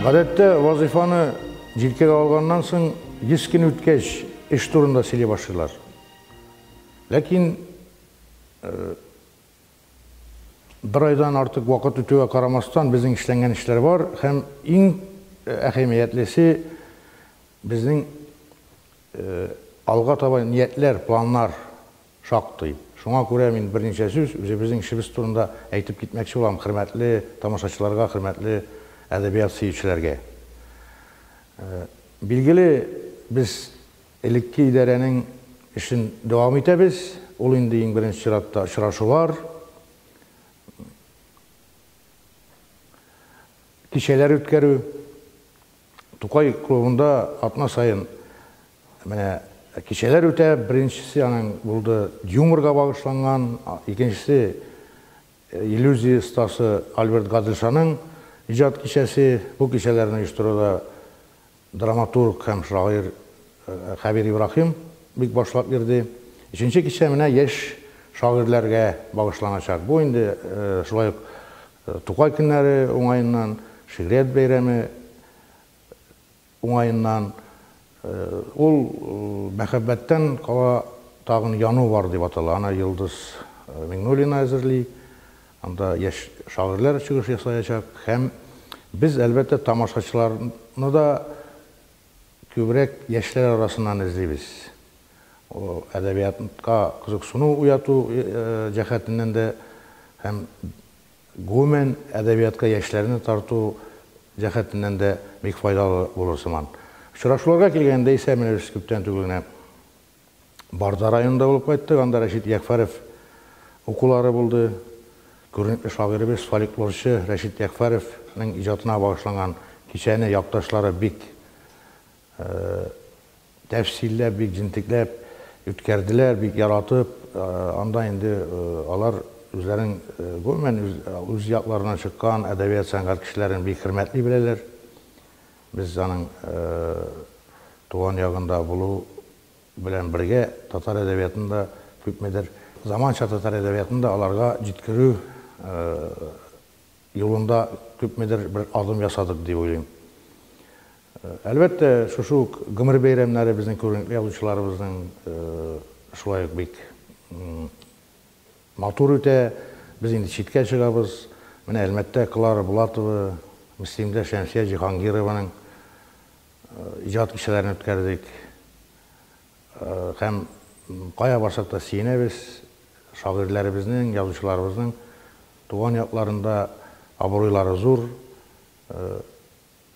Гадәттә вазифаны җилкәгә алганнан соң 100 көн үткәч эш турында сөйли башлыйлар. Ләкин э, Бер айдан артык вакыт үтүгә карамастан, безнең эшләнгән эшләр бар һәм иң әһәмиятлесе, безнең алга таба ниятләр, планнар шактый. Шуңа күрә мин берничә сүз үзебезнең эшебез турында әйтеп китмәкче булам хөрмәтле тамашачыларга, хөрмәтле әдәбият сөючеләргә. Билгеле, без Элекке идарәнең эшен дәвам итәбез, ул инде иң беренче чиратта очрашулар, кичәләр үткәрү. Тукай клубында атна саен менә кичәләр үтә, беренчесе аның булды юморга багышланган, икенчесе иллюзия остасы Альберт Гаделшаның иҗат кичәсе. Бу кичәләрне оештыруда Драматург һәм шагыйрь Хәбир Ибраһим бик башлап йөрде. Өченче кичә менә яшь шагыйрьләргә багышланачак. Бу инде шулай ук Тукай көннәре уңаеннан, шигърият бәйрәме уңаеннан. Ул Мәхәббәттән кала тагын яну бар дип атала. Аны Йолдыз Миңнуллина әзерли. Анда яшь шагыйрьләр чыгыш ясаячак һәм без, әлбәттә, тамашачыларны да күбрәк яшьләр арасыннан эзлибез. Әдәбиятка кызыксыну уяту җәһәтеннән дә һәм, гомумән, әдәбиятка яшьләрне тарту җәһәтеннән дә бик файдалы булыр сыман. Очрашуларга килгәндә исә, менә без күптән түгел генә Барда районында булып кайттык, анда Рәшит Ягъфәров укулары булды. Күренекле шагыйребез, фольклорчы Рәшит Ягъфәровның иҗатына багышланган кичәне якташлары бик тәфсилләп, бик җентекләп үткәрделәр, бик яратып. Анда инде алар үзләренең гомумән үз якларыннан чыккан әдәбият-сәнгать кешеләрен бик хөрмәтли беләләр. Без аның туган ягында булу белән бергә, татар әдәбиятын да күпмедер, заманча татар әдәбиятын да аларга җиткерү юлында күпмедер бер адым ясадык дип уйлыйм. Әлбәттә, шушы ук гомер бәйрәмнәре безнең күренекле язучыларыбызның шулай ук бик Матур үтә, без инде читкә чыгабыз. Менә Әлмәттә Клара Булатова, Мөслимдә Шәмсия Җиһангированың иҗат кичәләрен үткәрдек. Һәм кая барсак та сөенәбез, шагыйрьләребезнең, язучыларыбызның туган якларында абруйлары зур.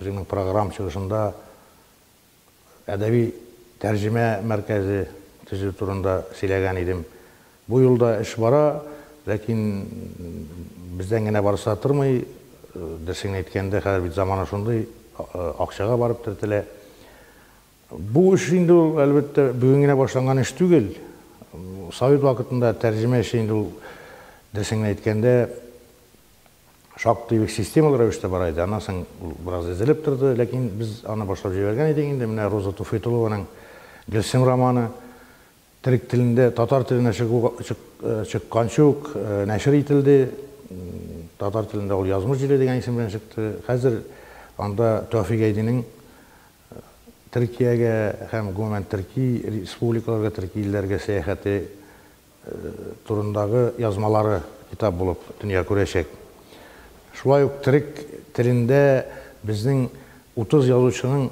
Үзеңнең программ чыгышында әдәби тәрҗемә мәркәзе төзү турында сөйләгән идем. Бу юлда эш бара, ләкин бездән генә барысы да тормый. Дөресен әйткәндә, хәзер бит замана шундый, акчага барып төртелә. Бу эш инде ул, әлбәттә, бүген генә башланган эш түгел. Совет вакытында тәрҗемә эше инде ул, дөресен генә әйткәндә, шактый бик системалы рәвештә бара иде. Аннан соң ул бераз изелеп торды, ләкин без аны башлап җибәргән идек инде. Менә Роза Туфыйтулованың Гөлсем романы төрек телендә татар теленә чыкканчы ук нәшер ителде. Татар телендә ул Язмыш җиле дигән исем белән чыкты. Хәзер анда Тәүфик Әйдинең Төркиягә һәм, гомумән, төрки республикаларга, төрки илләргә сәяхәте, турындагы язмалары китап булып дөнья күрәчәк. Шулай ук төрек телендә безнең 30 язучының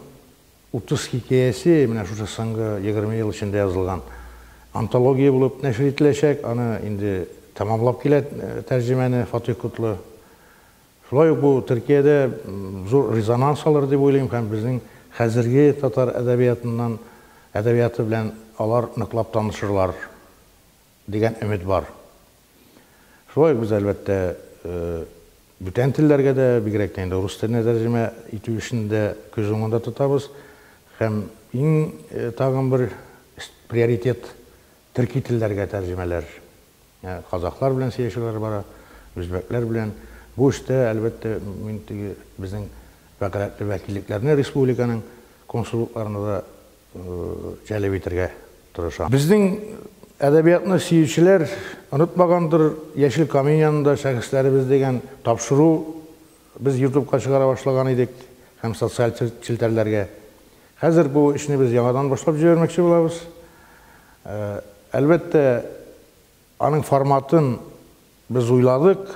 30 хикәясе менә шушы соңгы егерме ел эчендә язылган антология булып нәшер ителәчәк. Аны инде тәмамлап килә тәрҗемәне Фатыйх Котлы. Шулай ук бу Төркиядә зур резонанс алыр дип уйлыйм һәм безнең хәзерге татар әдәбиятыннан, әдәбияты белән алар ныклап танышырлар дигән өмет бар. Шулай ук без, әлбәттә, бүтән телләргә дә, бигрәк тә инде рус теленә тәрҗемә итү эшен дә күз уңында тотабыз һәм иң тагын бер приоритет Төрки телләргә тәрҗемәләр, казахлар белән сөйләшүләр бара, үзбәкләр белән. Бу эштә, әлбәттә, мин теге безнең вәкаләтле вәкиллекләрне республиканың консуллыкларына да җәлеп итәргә тырышам. Безнең әдәбиятны сөючеләр онытмагандыр, Яшел камень янында шәхесләребез дигән тапшыру без ютубка чыгара башлаган идек һәм социаль челтәрләргә. Хәзер бу эшне без яңадан башлап җибәрмәкче булабыз. Әлбәттә, аның форматын без уйладык,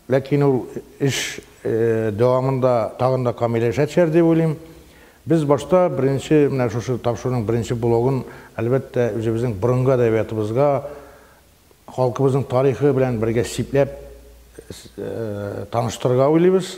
ләкин ул эш дәвамында тагын да камилләшә төшәр дип уйлыйм. Без башта беренче менә шушы тапшыруның беренче блогын, әлбәттә, үзебезнең борынгы әдәбиятыбызга, халкыбызның тарихы белән бергә сипләп таныштырырга уйлыйбыз.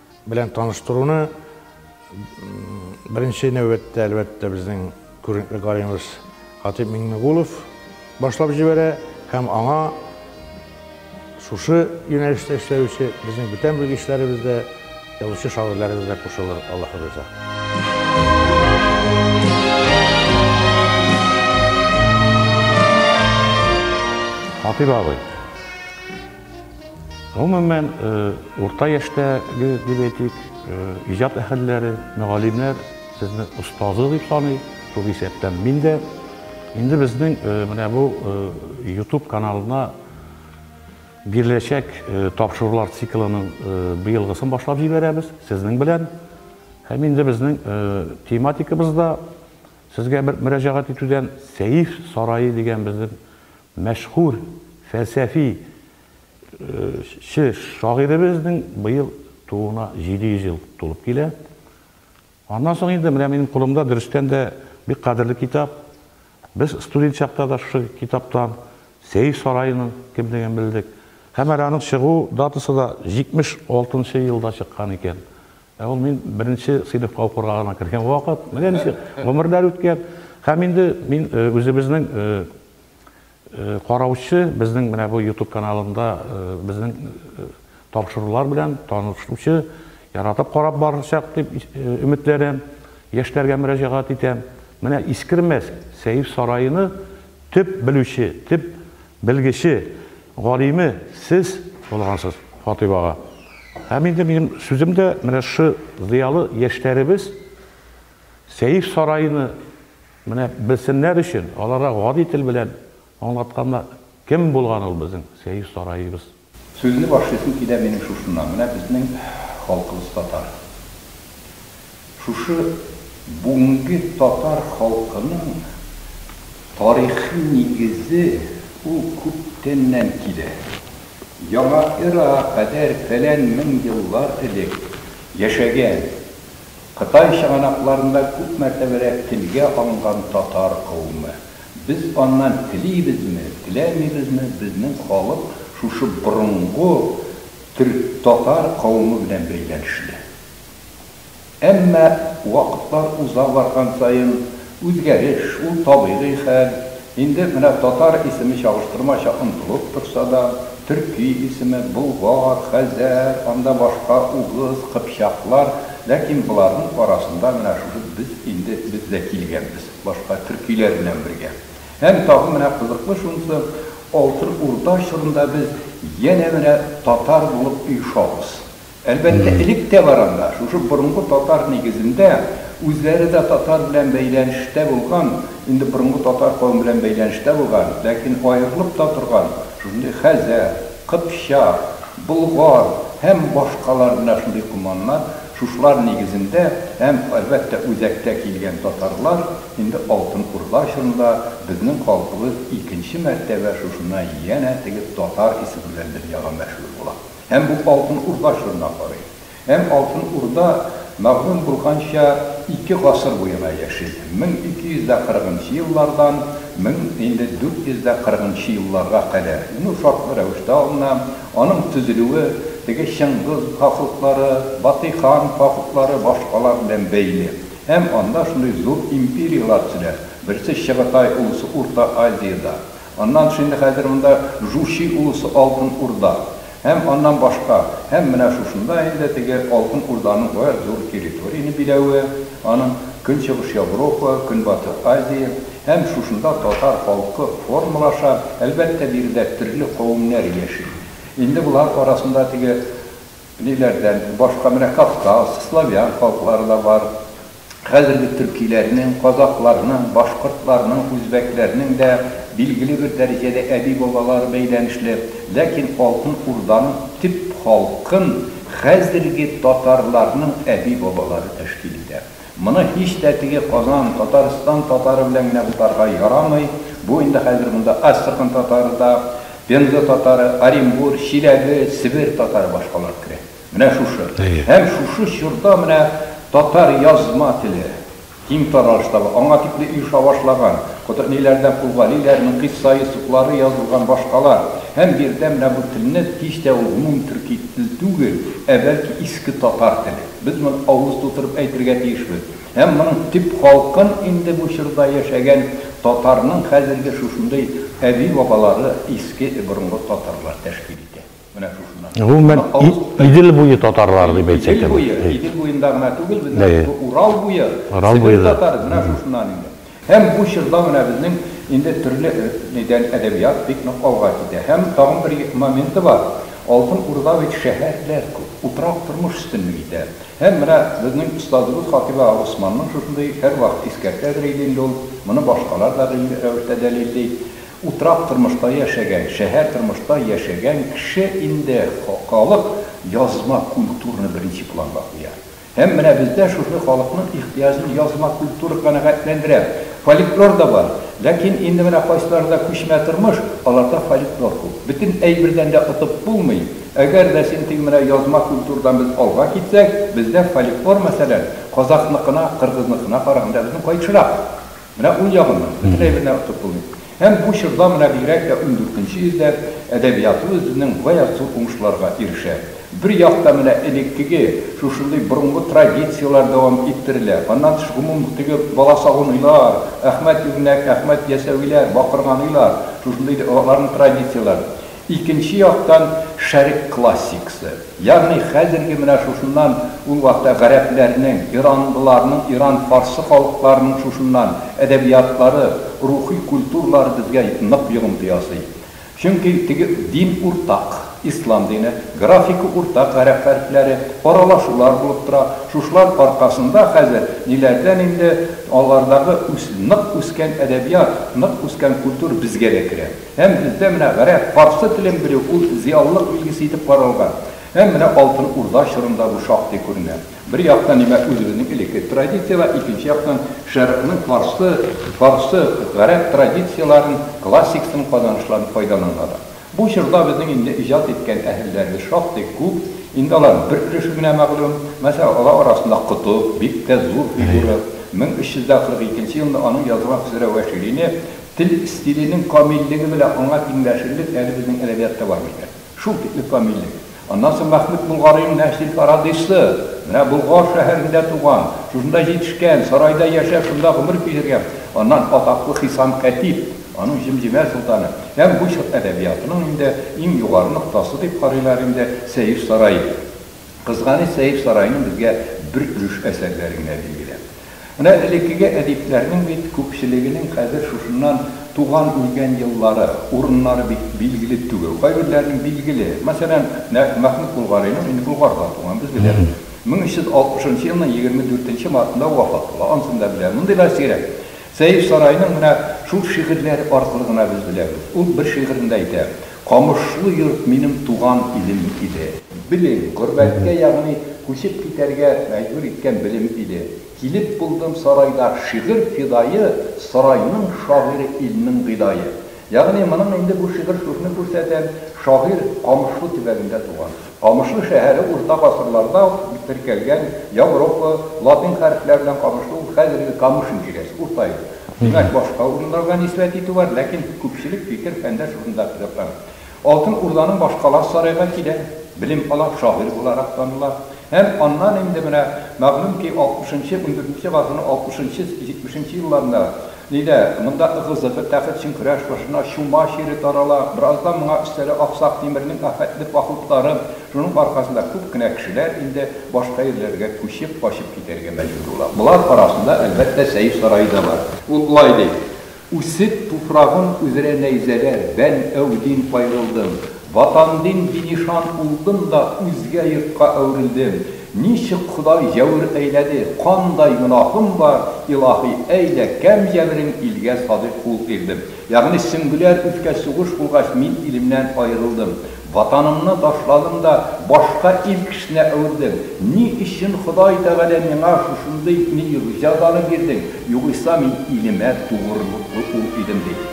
Белән таныштыруны беренче нәүбәттә, әлбәттә, безнең күренекле гаримыбыз Хатип Миңнегулов башлап җибәрә һәм аңа шушы юнәлештә эшләүче безнең бүтән белгечләребез дә, язучы шагыйрьләребез дә кушылыр, Аллаһы риза. Хатыйп абый. Гомумән, урта яшьтәге, дип әйтик, иҗат әһелләре, мөгаллимнәр сезне остазы дип саный, шул исәптән мин дә. Инде безнең менә бу YouTube каналына биреләчәк тапшырулар циклының быелгысын башлап җибәрәбез сезнең белән. Һәм инде безнең тематикабыз да сезгә бер мөрәҗәгать итүдән, Сәйф сарае дигән безнең Мәшһүр фәлсәфи че шагыйребезнең быел тууына 700 ел тулып килә. Аннан соң инде менә минем кулымда дөрестән дә бик кадерле китап. Без студент чакта да шушы китаптан Сәер сараеның кемлеген белдек. Һәм әле аның чыгу датасы да 76 нчы елда чыккан икән. Ә ул мин беренче сыйныфка укырга гына кергән вакыт. Менә ничек гомерләр үткән. Һәм инде мин үзебезнең Караучы безнең менә бу ютуб каналында безнең тапшырулар белән танышучы, яратып карап барачак дип өметләрем, яшьләргә мөрәҗәгать итәм. Менә Искермәс сәер сараены төп белүче, төп белгече, галиме сез булгансыз, Фатыйп ага. Һәм инде минем сүзем дә менә шушы зыялы яшьләребез сәер сараены Менә белсеннәр өчен, аларга гади тел белән аңлатканда, кем булган ул безнең Сәер Сараебыз? Сүзне башлыйсым килә минем шушыннан, менә безнең халкыбыз татар. Шушы бүгенге татар халкының тарихи нигезе ул күптәннән килә. Яңа эрага кадәр фәлән мең еллар элек яшәгән. Кытай чыганакларында күп мәртәбәләр телгә алынган татар кавымы. Без аннан телибезме, теләмибезме, безнең халык шушы борынгы төрек-татар кавымы белән бәйләнешле. Әмма вакытлар уза барган саен, Үзгәреш, ул табигый хәл. Инде менә татар исеме чагыштырмача онытылып торса да, төрки исеме, болгар, хәзәр, анда башка, угыз, кыпчаклар, ләкин боларның арасында менә шушы без инде без дә килгәнбез, башка төркиләр белән бергә. Һәм тагын менә кызыклы шунысы, Алтын Урда чорында без янә менә татар булып оешабыз. Әлбәттә, элек тә бар анда, шушы борынгы татар нигезендә, үзләре дә татар белән бәйләнештә булган, инде борынгы татар кавеме белән бәйләнештә булган, ләкин аерылып та торган шундый хәзәр, кыпчак, болгар һәм башкалар менә шундый команнар, шушылар нигезендә һәм, әлбәттә, үзәктә килгән татарлар инде Алтын Урда чорында безнең халкыбыз икенче мәртәбә шушына янә теге татар исеме белән дөньяга мәшһүр була. Һәм бу Алтын Урда чорына карый. Һәм Алтын Урда, мәгълүм булганча, ике гасыр буена яши, 1240 нчы еллардан 1440 нчы елларга кадәр. Ну, шартлы рәвештә алына. Аның төзелүе теге Чыңгыз хафлыклары, Батый хан хафлыклары, башкалар белән бәйле. Һәм анда шундый зур империяләр төзелә. Берсе Чыгытай улусы Урта Азиядә. Аннан тыш инде хәзер монда Жучи улусы Алтын Урда һәм аннан башка, һәм менә шушында инде теге Алтын Урданың гаять зур территорияне биләве, аның Көнчыгыш Европа, Көнбатыр Азия, һәм шушында татар халкы формалаша, әлбәттә, биредә төрле кавемнәр яши. Инде болар арасында теге. Ниләрдән башка менә Кавказ, славян халыклары да бар. Хәзерге төркиләрнең, казакъларның, башкортларның, үзбәкләрнең дә билгеле бер дәрәҗәдә әби-бабалары бәйләнешле. Ләкин Алтын Урданың төп халкын хәзерге татарларның әби-бабалары тәшкил итә. Моны һич тә теге Казан, Татарстан татары белән генә бутарга ярамый, бу инде хәзер монда Астрахань татары да, Пенза татары, Оренбур, Чиләбе, Себер татары башкалар керә. Менә шушы. Һәм шушы чорда менә татар язма теле киң таралыш таба, аңа тикле оеша башлаган, Котыгниләрдән Кулгалиләрнең кыйсса Йосыфлары язылган башкалар, һәм биредә менә бу телне һич тә ул гомум төрки тел түгел, ә бәлки иске татар теле. Без моны авыз тутырып әйтергә тиешбез. Һәм моның төп халкын инде бу чорда яшәгән татарның хәзерге шушындый әби-бабалары, иске, борынгы татарлар тәшкил итә. Менә шушыннан. Гомумән, Идел буе татарлары дип әйтсәк тә була. Идел буе, Идел буенда гына түгел, безнең Урал буе, Себер татары, менә шушыннан инде. Һәм бу чорда менә безнең инде төрле нидән әдәбият бик нык алга китә. Һәм тагын бер моменты бар, Алтын Урда бит шәһәрләр күп, утрак тормыш өстенлек итә. Һәм менә безнең остазыбыз Хатыйба Госманның шушындый, һәрвакыт искәртәдер иде инде ул, моны башкалар да гыйльми рәвештә дәлилли, утрак тормышта яшәгән, шәһәр тормышта яшәгән кеше инде, халык язма культураны беренче планга куя. Һәм менә бездә шушы халыкның ихтыяҗын язма культура канәгатьләндерә. Фольклор да бар. Ләкин инде менә кайсыларда күчмә тормыш, аларда фольклор күп. Бөтен әйбердән дә отып булмый. Әгәр дә син теге менә язма культурдан без алга китсәк, бездә фольклор, мәсәлән, казахныкына, кыргызныкына караганда безнең кайтышрак. Менә ул ягыннан бөтенләй бер нәрсә отып булмый. Һәм бу чорда, менә бигрәк тә ундүртенче йөздә, әдәбиятыбыз безнең гаять зур уңышларга ирешә. Бер якта менә элеккеге, шушындый борынгы традицияләр дәвам иттерелә. Аннан тыш гомум теге баласагуныйлар, Әхмәт Югнәк, Әхмәт Ясәвиләр, Бакырганыйлар, шушындый аларның традицияләр. Икенче яктан, Шәрык классиксы, ягъни хәзерге менә шушыннан, ул вакытта гарәпләрнең, иранлыларның, иран-фарсы халыкларының шушыннан, әдәбиятлары, рухи культуралары безгә нык йогынты ясый. Чөнки теге дин уртак, ислам дине, графика уртак, гарәп хәрефләре, аралашулар булып тора, шушылар аркасында хәзер ниләрдән инде алардагы үс, нык үскән әдәбият, нык үскән культура безгә дә керә. Һәм бездә менә гарәп, парсы телен белү ул зыялылык билгесе итеп каралган. Һәм менә Алтын Урда чорында бу шактый күренә. Бер яктан, димәк, үзебезнең элекке традицияләр, икенче яктан, Шәрыкның парсы, фарсы, гарәп традицияләрен, классикасын, казанышларын файдаланганнар. Бу чорда безнең инде иҗат иткән әһелләребез шактый күп. Инде аларның бер өлеше генә мәгълүм. Мәсәлән, алар арасында Котып, бик тә зур фигура. 1342 елында аның язылган Хөсрәвәширине, Тел стиленең камиллеге белән аңа тиңләшерлек әле безнең әдәбиятта бар микән? Шул тикле камиллек! Аннан соң Мәхмүт Болгарыйның нәшри Фарадыйсы! Менә Болгар шәһәрендә туган, шушында җитешкән, сарайда яшәп, шунда гомер кичергән. Аннан атаклы Хисам Кәтиб, аның Җемҗемә солтаны. Һәм бу чор әдәбиятының инде иң югары ноктасы дип карыйлар инде Сәер сарае. Кызганыч, Сәер сараеның безгә бер өлеш әсәрләре генә билгеле. Менә элеккеге әдипләрнең бит күпчелегенең хәзер шушыннан туган-үлгән еллары, урыннары бит билгеле түгел. Кайберләренең билгеле. Мәсәлән, нәкъ Мәхмүт Болгарыйның, инде Болгарда туган, без беләбез, 1360 нчы елның 24 нче мартында вафат була. Анысын да беләбез. Мондыйлар сирәк. Сәеф Сарайның менә шул шигырьләре аркылы гына без беләбез. Ул бер шигырендә әйтә. Камышлы йорт минем туган илем иде. Белем, горбәткә ягъни күчеп китәргә мәҗбүр иткән белем иде. Килеп булдым сарайда, шигырь фидае, сарайның шагыйре илнең гыйдае. Ягъни моның инде бу шигырь шушны күрсәтә, шагыйрь Камышлы төбәгендә туган. Камышлы шәһәре урта гасырларда ук теркәлгән Европа, латин хәрефләре белән Камышлы ул хәзерге Камыш империясе, Урта юл. Димәк, башка урыннарга нисбәт итү бар, ләкин күпчелек фикер фәндә шушында тотрыклана. Алтын Урданың башкаласы сарайга килә, белем ала, шагыйрь буларак таныла. Һәм аннан инде менә мәгълүм ки, алтмышынчы-унберенче гасырның алтмышынчы-җитмешенче елларында Лилә, монда ыгы-зыгы, тәхетчен көрәш башына чума чире тарала. Бераздан моңа өстәлә Аксак Тимернең афәтле походлары. Шуның аркасында күп кенә кешеләр инде башка ирләргә күчеп, качып китәргә мәҗбүр була. Болар арасында, әлбәттә, Сәйф сарае да бар. Ул болай ди, Үсеп туфрагым үзрә нәйзәләр, бән әү дин кайрылдым. Ватан дин бинишан улдым да үзгә йортка әверелдем. Ничек Ходай җәвер әйләде, кандай гөнаһым бар, Илаһи, әйдә, кәм җәберең илгә садыйк кул ирдем. Ягъни сөңгеләр үскәч, сугыш булгач, мин илемнән аерылдым. Ватанымны ташладым да башка ил кешенә әвердем. Ни өчен Ходай Тәгалә миңа шушындый милигҗазаны бирдең, югыйса мин илемә тугрылыклы ул идем, ди.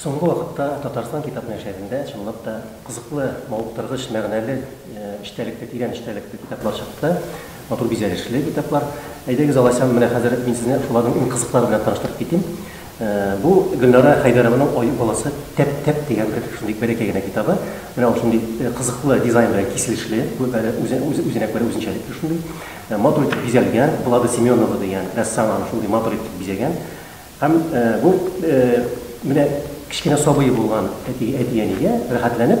Соңгы вакытта Татарстан китап нәшәрендә чынлап та кызыклы, мавыктыргыч, мәгънәле, эчтәлекле, тирән эчтәлекле китаплар чыкты, матур бизәлешле китаплар. Әйдәгез, алайсам, менә хәзер мин сезне шуларның иң кызыклары белән таныштырып китим. Бу Гөлнара Хәйдәрованың Аю баласы тәп-тәп дигән бер шундый бәләкәй генә китабы. Менә ул шундый кызыклы дизайн белән киселешле, үзенә күрә үзенчәлекле шундый. Матур итеп бизәлгән. Влада Семенова дигән рәссам аны шундый матур итеп бизәгән. Һәм бу менә кечкенә сабые булган әти-әнигә рәхәтләнеп,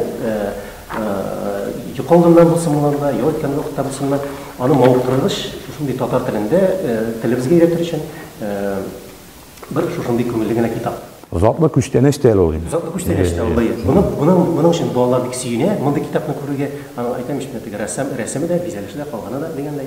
йокы алдыннан булсын моннан да, ял иткән вакытта булсын да, аны мавыктыргыч, шушындый татар телендә, телебезгә өйрәтер өчен бер шушындый күңелле генә китап. Затлы күчтәнәч тә әле ул инде. Затлы күчтәнәч тә ул, әйе. Моның өчен балалар бик сөенә, мондый китапны күрергә. Әйтәм ич, менә теге рәссам рәсеме дә, бизәлеше дә, калганы да дигәндәй.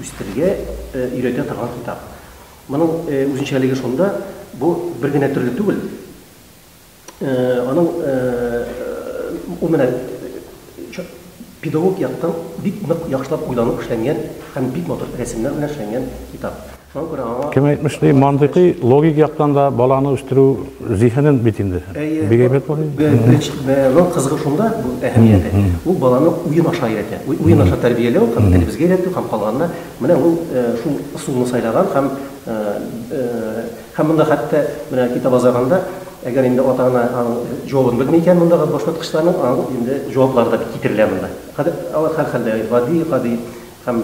үстерергә өйрәтә торган китап. Моның үзенчәлеге шунда, бу бер генә төрле түгел. Аның ул менә педагог яктан бик нык яхшылап уйланып эшләнгән һәм бик матур рәсемнәр белән эшләнгән китап. Шуңа күрә аңа Кем әйтмешли, мантыйкый, логик яктан да баланы үстерү Зиһенен бит инде. Бик әйбәт була. Бәяләү кызыгы шунда, бу әһәмияте. Ул баланы уен аша өйрәтә. Уен аша тәрбияләү һәм телебезгә өйрәтү һәм калганына, менә ул шул ысулны сайлаган һәм һәм монда хәтта менә китап азагында, әгәр инде ата-ана аның җавабын белми икән мондагы башваткычларның, аның инде җаваплары да китерелә монда. Хәзер алар һәрхәлдә гади, гади һәм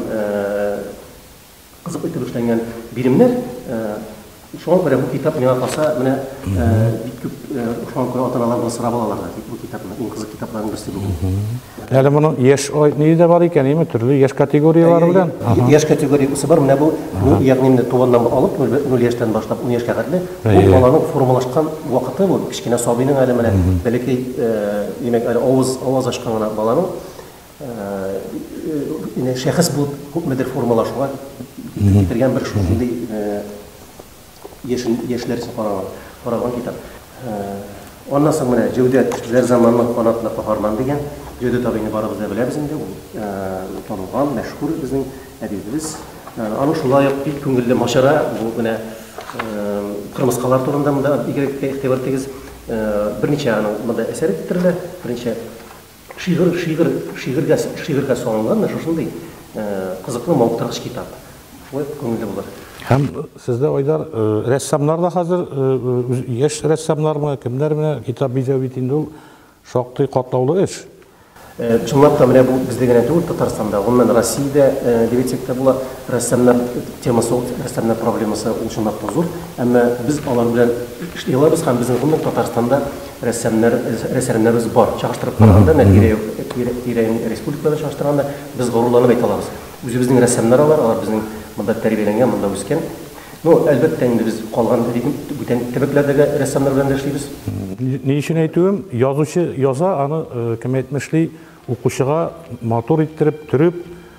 Кызык итеп эшләнгән биремнәр. Шуңа күрә бу китап миңа калса, менә бик күп шуңа күрә ата-аналар моны сорап алалар да, бу китапны, иң кызык китапларның берсе бүген. Әле моның яшь ние дә бар икән, яме, төрле яшь категорияләре белән. Яшь категориясе бар, менә бу, ягъни менә туганнан алып, нуль яшьтән башлап ун яшькә кадәр, бу баланың формалашкан вакыты бу, кечкенә сабыйның әле менә бәләкәй, димәк, әле авыз ачкан гына баланың. Яни шәхес булып күпмедер формалашуга китергән бер шундый яшьләр өчен каралган китап. Аннан соң менә Җәүдәт Зәрзаманның канатына каһарман дигән. Җәүдәт абыйны барыбыз да беләбез инде, ул танылган, мәшһүр безнең әдибебез. Аның шулай ук бик күңелле мачара бу менә кырмыскалар турында монда бигрәк тә игътибар итегез. Берничә аның монда әсәре китерелә, берничә Шигырь, шигырь, шигырьгә, шигырьгә салынган менә шушындый кызыклы, мавыктыргыч китап. Шулай ук күңелле булыр. Һәм сездә, Айдар, рәссамнар да хәзер, яшь рәссамнармы, кемнәр менә китап бизәү бит инде ул шактый катлаулы эш. Чынлап та, менә бу бездә генә түгел, Татарстанда, гомумән, Россиядә, дип әйтсәк тә була, рәссамнар темасы ул, рәссамнар проблемасы ул чынлап та зур. Әмма без алар белән эшли алабыз һәм безнең, гомумән, Татарстанда, рәссамнар, рәссамнарыбыз бар. Чагыштырып караганда, менә тирә-юк, тирә, тирә-юнь республика белән чагыштырганда, без горурланып әйтә алабыз. Үзебезнең рәссамнар алар, алар безнең монда тәрбияләнгән, монда үскән. Ну, әлбәттә, инде без калган регион, бүтән төбәкләрдәге рәссамнар белән дә эшлибез. Ни өчен әйтүем, язучы яза, аны, кем әйтмешли, укучыга матур иттереп, төреп,